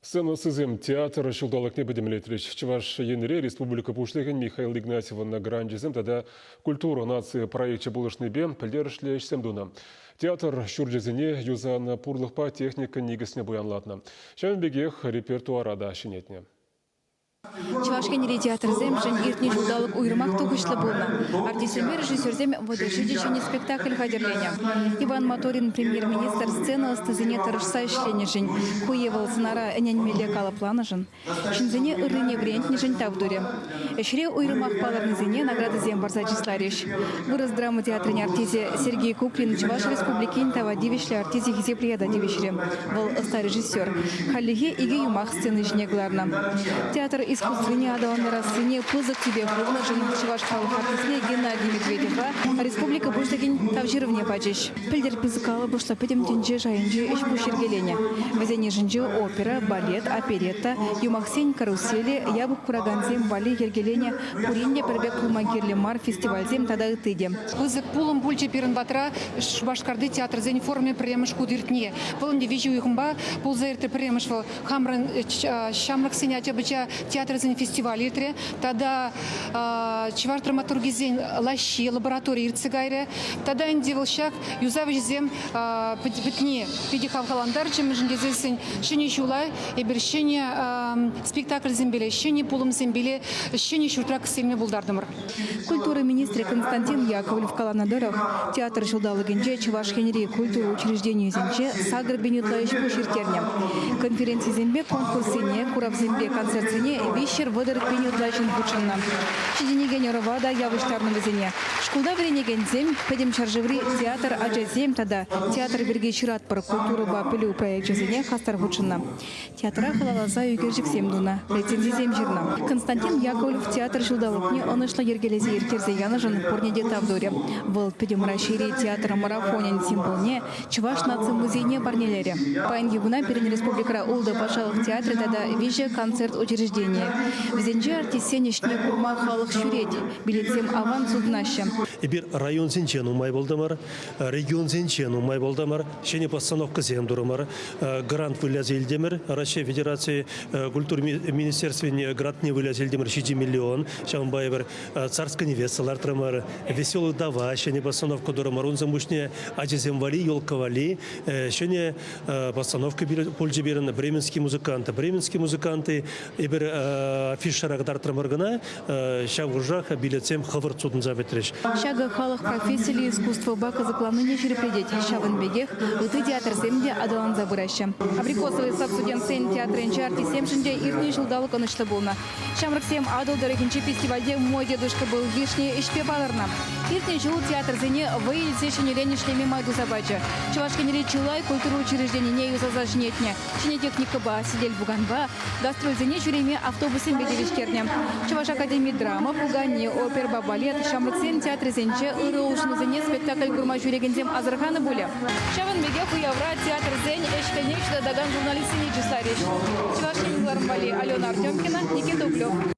Сцена ӑстисем театр ҫулталӑкне пӗтӗмлетрӗҫ. Чӑваш Енре республика Пуҫлӑхӗн Михаил Игнатьевӑн гранчӗсем тата «Культура нации» проекчӗ пулӑшнипе пӗлтерӗшлӗ ӗҫсем тунӑ. Театр ҫурчӗсене юсанӑ пурлӑхпа техника никӗсне пуянлатнӑ. Ҫавӑн пекех репертуара та ҫӗнетнӗ. Чӑваш Енри театрсемшӗн иртнӗ ҫулталӑк уйрӑмах тухӑҫлӑ пулнӑ. Артистсемпе режиссерсем вӑтӑрҫи те ҫӗнӗ спектакль хатӗрленӗ. Иван Моторин премьер-министр сцена ӑстисене тӑрӑшса ӗҫленӗшӗн, ку е вӑл сӑнара ӗненмелле калӑпланӑшӑн, ҫынсене ыррине вӗрентнӗшӗн тав турӗ. Ӗҫре уйрӑмах палӑрнисене наградӑсем парса чысларӗҫ. Вырӑс драма театрӗн артисӗ Сергей Куклин Чӑваш Республикин тава тивӗҫлӗ артисчӗ хисеп ята тивӗҫрӗ. Вӑл ӑста режиссер. Хальлӗхе икӗ юмах сцена ҫине кӑларнӑ. Театр искусствине аталантарассине пысӑк тӳпе хывнӑшӑн чӑваш халӑх артистне Геннадий Медведевпа республика Пуҫлӑхӗн Тав ҫырӑвне пачӗҫ. Пӗлтӗр пысӑк калӑпӑшлӑ пӗтӗм тӗнче шайӗнчи ӗҫ-пуҫ йӗркеленӗ. Вӗсен йышӗнче опера, балет, оперетта, юмахсен каруселӗ, япӑх куракансем валли йӗркеленӗ пурин те пӗр пек пулма кирлӗ мар фестивальсем тата ытти те. Пысӑк пулӑм пулчӗ пирӗн патра. Шупашкарти театрсен форумӗ пӗрремӗш хут иртни. Вӑл ӗнтӗ виҫӗ уйӑхӑмпа пулса иртрӗ пӗрремӗш. Вӑл хамӑрӑн ҫамрӑксен ача-пӑча театрӗсен фестивалӗ иртрӗ. Тата чӑваш драматургӗсен лаҫҫи лабораторийӗ иртсе кайрӗ. Тата ӗнтӗ вӑл ҫак юсав ӗҫӗсем пӗтни питӗ хавхалантарчӗ, мӗншӗн тесессӗн ҫӗнӗ ҫула эпир ҫӗнӗ спектакльсемпеле, ҫӗнӗ пулӑмсемпеле ҫӗнӗ ҫуртра кӗстерме пултартӑмӑр. Культура министрӗ Константин Яковлев каланӑ тӑрӑх, театр ҫулталӑкӗнче Чӑваш Енри культура учрежденийӗсенче сакӑр пин ытла ӗҫ-пуҫ ирттернӗ. Конференцисемпе конкурссене, куравсемпе концертсене виҫҫӗр вӑтӑр пин ытла ҫын хутшӑннӑ. Ҫитӗнекен ӑрӑва та явӑҫтарнӑ вӗсене. Шкулта вӗренекенсем Пӗтӗм ҫӗршыври театр ачасем тата театр пирки ҫыратпӑр культурӑпа пӗлӳ проекчӗсене хастар хутшӑннӑ. Театра халалласа ӳкерчӗксем тунӑ, рецензисем ҫырнӑ. Константин Яковлев театр ҫулталӑкне ӑнӑҫлӑ йӗркелесе ирттерсе янӑшӑн пурне те тав турӗ. Вӑл Пӗтӗм Раҫҫейри театр марафонӗн символне, чӑваш наци музейне парнелерӗ. Паянхи куна пирӗн республикӑра ултӑ патшалӑх театрӗ тата виҫӗ концерт учрежденийӗ. Вӗсенче артистсен ӗҫне курма халӑх ҫӳрет, билетсем аван сутӑнаҫҫӗ. Эпир районсенче нумай пултӑмӑр. Регионсенче нумай пултӑмӑр, ҫӗнӗ постановкӑсем турӑмӑр, грант выляса илтӗмӗр. Раҫҫей Федерацийӗ культура министерствине грантне выляса илтӗмӗр ҫичӗ миллион. Ҫавӑнпа эпир царская невеста лартрӑмӑр, Веселый дава ҫӗнӗ постановка турӑмӑр. Унсӑн пуҫне ачасем валли, елка валли ҫӗнӗ постановка пулчӗ пирӗн Бременский музыкант. Бременский музыкант эпир афишӑра кӑтартрӑмӑр кӑна, Ҫав хушах билетсем хӑвӑрт сутӑнса пӗтрӗҫ. Ҫакӑ халӑх профессиллӗ искусствӑпа кӑсӑкланнине ҫирӗплетет. Ҫавӑн пекех ытти театрсем те аталанса пыраҫҫӗ. Абрикосовый сад студентсен театрӗнчи артистсемшӗн те иртнӗ ҫулталӑк ӑнӑҫлӑ пулнӑ. Ҫамрӑксем Атӑл тӑрӑхӗнчи фестивальте Мой дедушка был вишни ӗҫпе палӑрнӑ. Иртнӗ ҫул театрсене вӑй илсе ҫӗнӗрен ӗҫлеме май туса пачӗ. Чӑваш Енре чылай культура учрежденине юсаса ҫӗнетнӗ. ҫӗнӗ техникӑпа, сӗтел-пуканпа, гастрольсене ҫӳреме автобуссемпе тивӗҫтернӗ. Чӑваш академи драма, пукане, оперӑпа балет, ҫамрӑксен театрӗсенче ырӑ улшӑнусене спектакль курма ҫӳрекенсем асӑрханӑ пулӗ. Ҫавӑн пекех уявра театрсен ӗҫ-хӗлне ҫутатакан журналистсене чысларӗҫ Чӑваш Ен кӑларӑм валли Алена Артемкина, Никита Углев.